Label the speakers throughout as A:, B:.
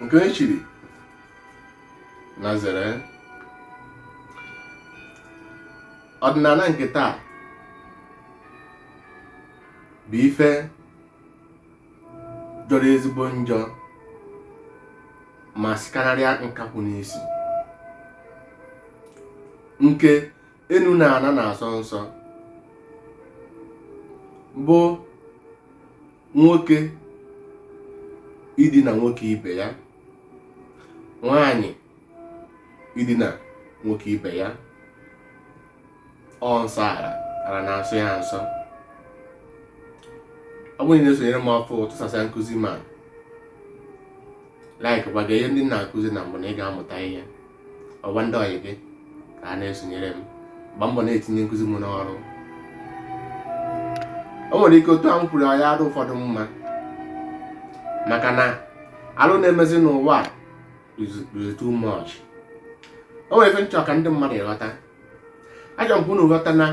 A: nke e chiri na zere ọdịnana nke taa bụ ife jọrọ ezigbo njọ ma sikarịa nkakwụ n'isi nke enu na ana na-asọ nsọ bụ nwoke idina nwoke ibe ya nwaanyị idina nwoke ibe ya ọ nsọ ana ana na-asọ ya nsọ ọ bụrụ na ị na-esonyere m ọfụụ tụsasịa nkụzi m a like gbaga ihe ndị na-akụzi na mbụ na ị ga-amụta ihe gwa ndị ọyị gị ka ha na-esonyere m gba mbọ na-etinye nkụzi m n'ọrụ o nwere ike otu a m kwuru ya adịrọ ụfọdụ mma maka na alụ na-emezi n'ụwa is too much o nwere ife m chọ ka ndị mmadụ ghọta achọ m ka unu ghọta na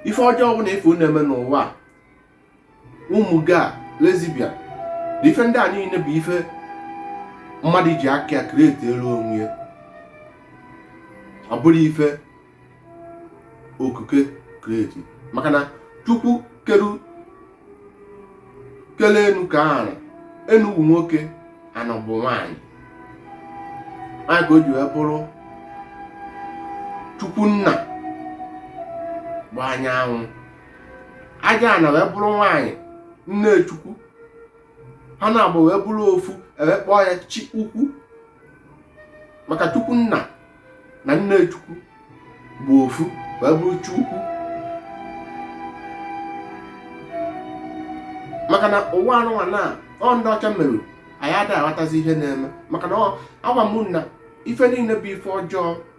A: ife ọjọọ ọbụna ife unu eme n'ụwa ụmụ gay lesbian na ife ndị a niile bụ ife mmadụ ji aka ya create-elu onwe ya ọ bụrọ ife okike create maka na chukwu kele enu kee ana enu bụ nwoke ana bụ nwaanyị ya ka o ji wee bụrụ chukwu nna bụ anyanwụ aja ana wee bụrụ nwaanyị nne chukwu ha naabọ wee bụrụ ofu e wee kpọọ ya chi ukwu maka chukwu nna na nne chukwu bụ ofu wee bụrụ chi ukwu maka na ụwa anụnwa na ọ ndị ọcha mere anyị adịghị aghọtazi ihe na-eme maka na agwa m na ife niile bụ ife ọjọọ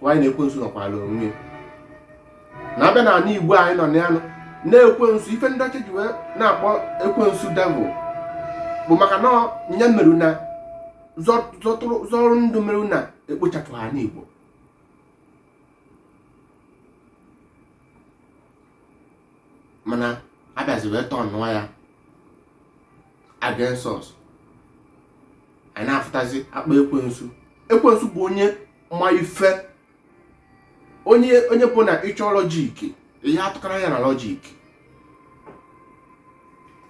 A: gwa anyị na ekwensu nọkwala onwe ya na a bịa na ala igbo anyị nọ na ya na ekwensu ife ndị ọcha ji wee na-akpọ ekwensu devil bụ maka na ọ ya meru na zọrụ ndụ meru na ekpochapụrọ ndị igbo mana a bịazi wee turn-ụọ ya against us anyị na-afụtazi akpọ ekwensu ekwensu bụ onye ma ife onye onye bụ na ị chọọ logic ihe atụkara ya na logic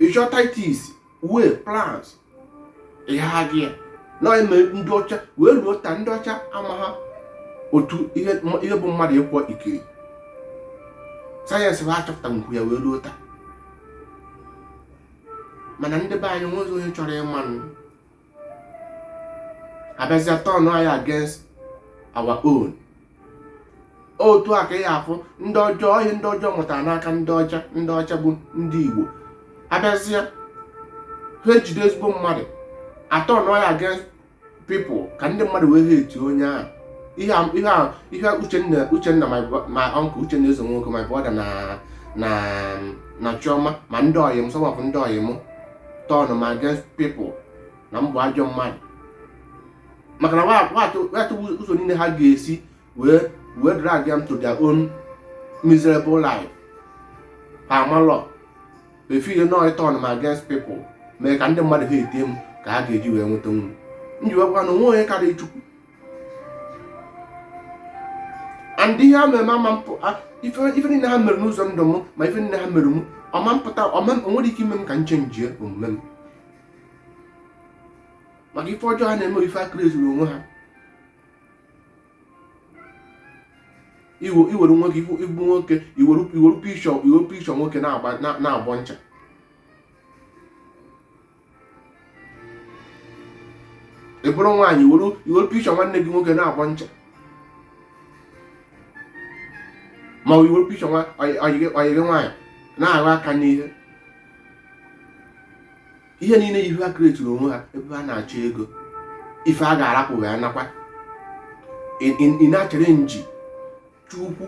A: ị chọọ tactics war plans ihe ha gị ya na eme ndị ọcha wee ruo taa ndị ọcha amarọ otu ihe m- ihe bụ mmadụ ikwu ekili sayensị ha achọpụtanwu ya wee ruo taa mana ndị be anyị nwezi onye chọrọ ịma nụ abịazịa turn anyị against our own otu a ka ị afụ ndị ọjọọ ihe ndị ọjọọ mụtara n'aka ndị ọcha ndị ọcha bụ ndị igbo abịazịa ha ejide ezigbo mmadụ atọnụọ ya against people ka ndị mmadụ wee hate onye ahụ ihe a- ihe a- ihe a uchenna uchenna my bro- my uncle uchenna eze nwoke my brother na na na chioma ma ndị ọyị m some of ndị ọyị m turn m against people na m bụ ajọ mmadụ maka na wa- wa- watụ ụzọ niile ha ga-esi wee wee drag them to their own miserable life ha amalọ if not ịtọn m against people mee ka ndị mmadụ hate m ka ha ga-eji wee nweta nwunye m ji wekwa na o nwe onye karịa chukwu and ihe a mere ama ife niile ha mere n'ụzọ ndụ m ma ife niile ha mere m ọ ma mpụta ọ ma nwee ike ime m ka m chenjie omume m maka ife ọjọọ ha na-eme ife ha kretiri onwe ha i were nwoke ị bụ nwoke i were picture i were picture nwoke na-agbọ ncha ị bụrụ nwaanyị i were picture nwanne gị nwoke na-agbọ ncha ma ọ i were picture ọyị gị nwaanyị na-aghọ aka n'ihe ihe niile ihe ha kretiri onwe ha ebe ha na-achọ ego ife a ga-arapụghị anakwa ị na-achalenji chukwu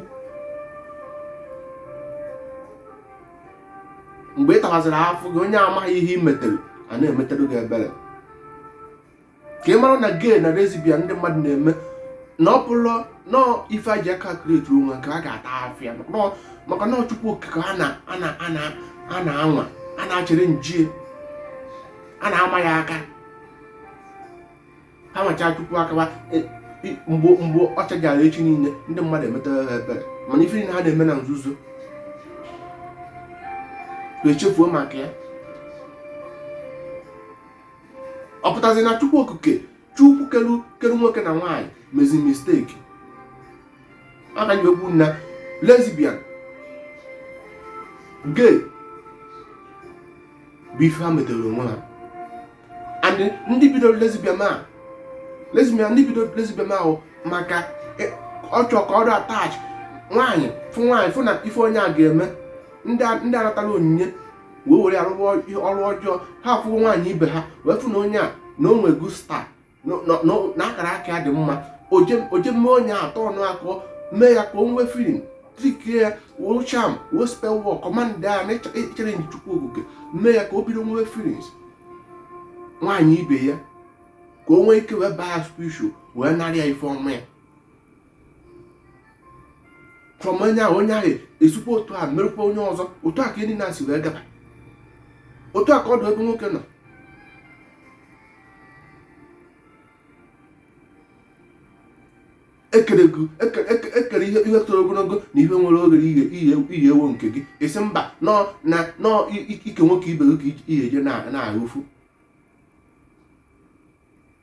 A: mgbe ị tawaziri afụfụ gị onye amaghị ihe ị metere a na-emetere gị ebere ka ị mara na gay na lesbian ndị mmadụ na-eme na ọ bụrụ na ife ha ji aka kreti onwe ka a ga-ata afụfụ ya maka na ọ chukwu okike a na-anwa a na-achalenjie a na-ama ya aka ha macha chukwu aka mgbe mgbe ọ chajara echi niile ndị mmadụ emetara ha ebere mana ife niile ha na-eme na nzuzo echefuo maka ya ọ pụtazi na chukwu okike chukwu kelu kelu nwoke na nwaanyị mezi mistake ha ka ji ekwu na lesbian gay bụ ife ha metere onwe ha and ndị bidoro lesbian a lesbian ndị bidoro lesbian ahụ maka e- ọ chọọ ka ọrụ attach nwaanyị fụ nwaanyị fụ na ife onye a ga-eme ndị a- ndị anatala onyinye wee were arụrụ ọrụ ọjọọ ha afụgo nwaanyị ibe ha wee fụ na onye a na o nwego star na akara aka ya dị mma o jee mee onye atọ ọnụ akọ mee ya ka o nwee feeling trikie ya wee charm wee spell work command ya na echere nji chukwu okike mee ya ka o bido nwee feelings nwaanyị ibe ya ka o nwee ike wee baa ya spiritual wee narị ya ife ọma ya from onye ahụ onye ahụ esikwa otu a merụkwa onye ọzọ otu a ka ndị na-esi wee gaba otu a ka ọ dị ebe nwoke nọ e kere e e ihe toro ogologo na ihe nwere oghere iyi ewo nke gị esi mba n'ike nwoke ibe gị ka ihe eje na-ahụ ụfụ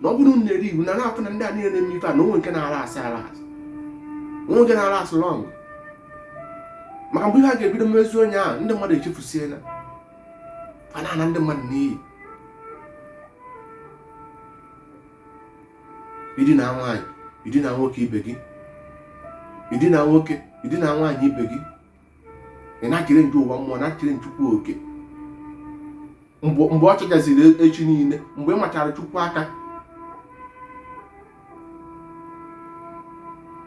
A: na ọ bụrụ na-eri iwu na na-afụ na ndị a niile na-eme ife a na o nwe nke na-alast alast o nwe nke na-alast long maka mgbe ihe a ga-ebido mezi onye ahụ ndị mmadụ echefusiela a na-ana ndị mmadụ n'iyi idina nwaanyị idina nwoke ibe gị idina nwoke idina nwaanyị ibe gị ị na-echere ndị ụwa mmụọ na-echere chukwu oke mgbe ọ chọchaziri e, echi niile mgbe ị machara chukwu aka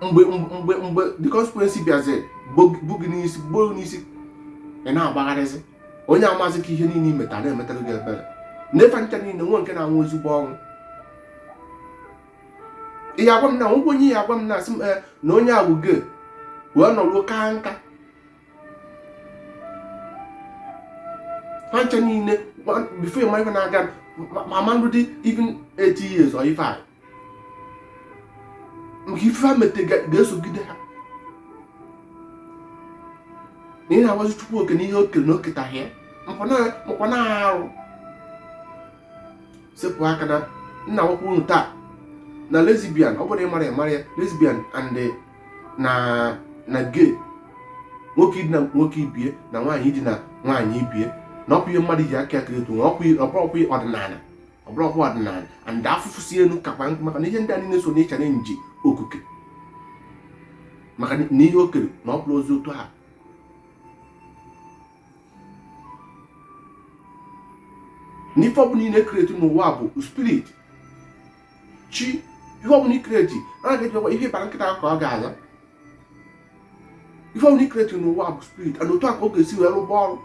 A: mgba mgbe mgbe the consequence bịazi bụ gị n'isi gboo n'isi ị na-agbagharịzi onye amazi ka ihe niile i meta na-emetara gị ebere n'ife ncha niile nwe nke na-anwụ ezigbo ọnwụ ị ya-agwa m na nwoke onye ị ya-agwa m na-asị m eh, na onye ahụ ge wee nọruo ka nka ha ncha niile before ị ma ife na-aga ma mmadụ dị even 80 years or ife anyị nke ife ha mete ga-esogide ha na ị na-agwazi chukwu oke n'ihe o kere na o ketaghị ya makwa na arụ sepụ aka na nna nwoke unu taa na lesbian ọ bụrụ ịmara ịmara ya lesbian and eh, na na gay nwoke idina nwoke ibie na nwaanyị idina nwaanyị ibie na ọkwa ihe mmadụ ji aka create ọbụrọkwa ọdịnala ọbụrọkwa ọdịnala and afụfụ si elu kakwa nkụ maka na ihe ndị a niile so n'ịchara chi okike maka na ihe o kere na ọ bụrọzi otu a na ife ọbụla ị na-ecreate n'ụwa bụ spirit chi ihe ọbụla ị create a ga-ejikwa ihe ị bara nkịta ka ọ ga-aza ihe ọbụla ị create n'ụwa bụ spirit and otu a ka ọ ga-esi wee rụba ọrụ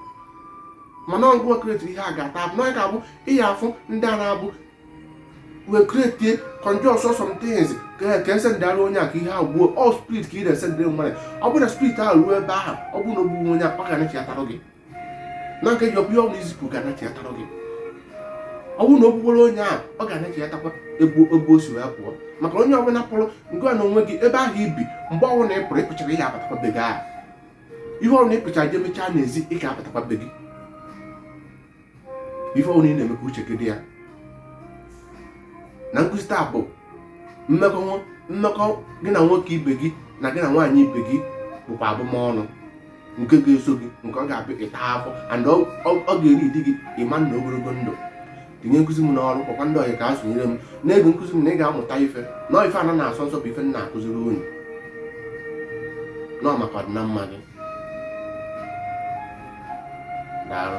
A: mana ọ gị create ihe a ga-ata abụ n'anya ga-abụ ị ya-afụ ndị a na-abụ wee create conjure so some things ka ka esendara onye a ka ihe ahụ gbuo ọ spirit ka ị na-esendere mmadụ ọ bụrụ na spirit ahụ ruo ebe ahụ ọ bụrụ na o gbuo onye ọ ga-anachiatara gị na nke ji ọbụla ọnụ i zipụ ga-anachiatara gị ọ bụrụ na o gbugboro onye ahụ ọ ga-anachiatakwa ebe o si wee pụọ maka onye ọbụla pụrụ ngwa na onwe gị ebe ahụ i bi mgbe ọbụla ị pụrụ ị pụchara ị ya-abatakwa be gị ahụ ihe ọbụla ị pụchara jee mechaa n'ezi ị ga-abatakwa be gị ife ọbụla ị na-eme ka uche gị dị ya na nkụzi taa bụ mmekọ gị na nwoke ibe gị na gị na nwaanyị ibe gị bụkwa abụmọnụ nke ga-eso gị nke ọ ga-abụ ịta afụfụ and ọ ga-eri ọdị gị mma na ogologo ndụ tinye nkụzi m n'ọrụ kpọkwa ndị ọyị ka ha sonyere m na-ege nkụzi m na ị ga-amụta ife na ife ana na-asọ nsọ bụ ife m na-akụziri unu na ọ maka ọdịna mma gị daalụ